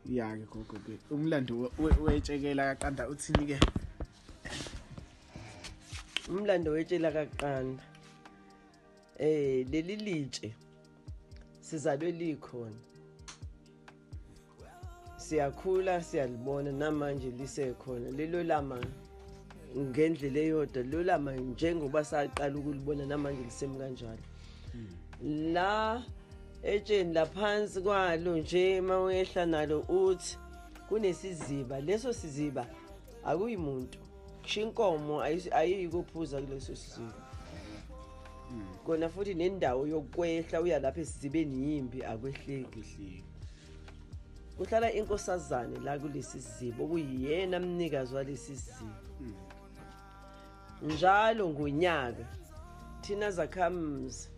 ya ke gogo ke umlando wetshekela kaqanda uthini ke umlando wetshela kaqanda eh leli litshe sizalwe likhona siyakhula siyalibona namanje lisekhona lelo lama ngendlela eyodwa lelo lama njengoba saqala ukulibona namanje lisemi kanjalo hmm. la etsheni laphansi kwalo nje uma uyehla nalo uthi kunesiziba leso siziba akuyi muntu kusho inkomo ayiyi kophuza kuleso siziba kona futhi nendawo yokwehla uya lapha esizibeni yimbi akwehleki kuhlala inkosazane la kulesi siziba okuyiyena mnikazi walesi siziba hmm. njalo ngonyaka thina zakhamuzi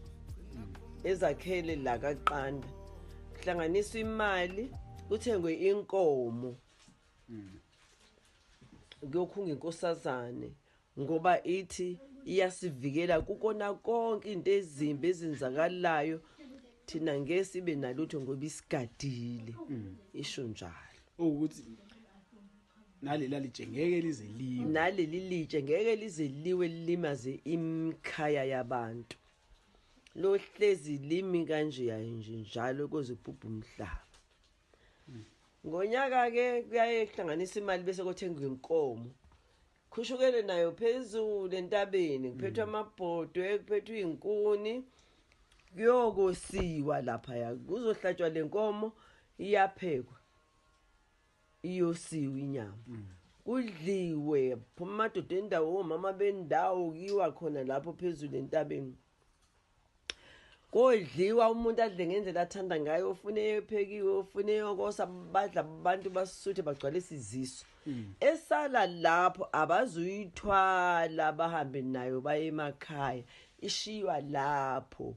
ezakhele la kaqanda kuhlanganiswa imali kuthengwe inkomo kuyokhunga inkosazane ngoba ithi iyasivikela kukona konke into ezimbi ezenzakalayo thina ngeke sibe nalutho ngoba isigadile isho njalo ukuthi naleli alitshe ngeke lize liwe naleli litshe ngeke lize liwe lilimaze imkhaya yabantu lohlezi limi kanje yaye nje njalo koze kubhubha umhlaba ngonyaka ke kuyaye kuhlanganisa imali bese kothenga inkomo khushukele nayo phezulu entabeni kuphethwa mm. amabhodwe kuphethwa izinkuni kuyokosiwa lapha ya kuzohlatshwa lenkomo iyaphekwa iyosiwe inyama mm. kudliwe phuma amadoda endawo omama bendawo kiwa khona lapho phezulu entabeni kodliwa umuntu adle ngendlela athanda ngayo ofune ephekiwe ofune yokosa badla abantu basuthe bagcwalisa iziso hmm. esala lapho abazuyithwala bahambe nayo baye emakhaya ishiywa lapho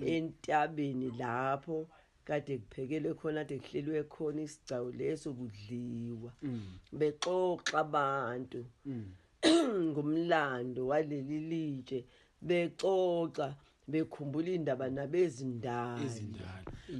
entabeni lapho Kade kuphekelwe khona kade kuhlelwe khona isigcawu leso kudliwa. Bexoxa abantu. ngomlando waleli litshe bexoxa bekhumbula indaba nabezindala. Izindala.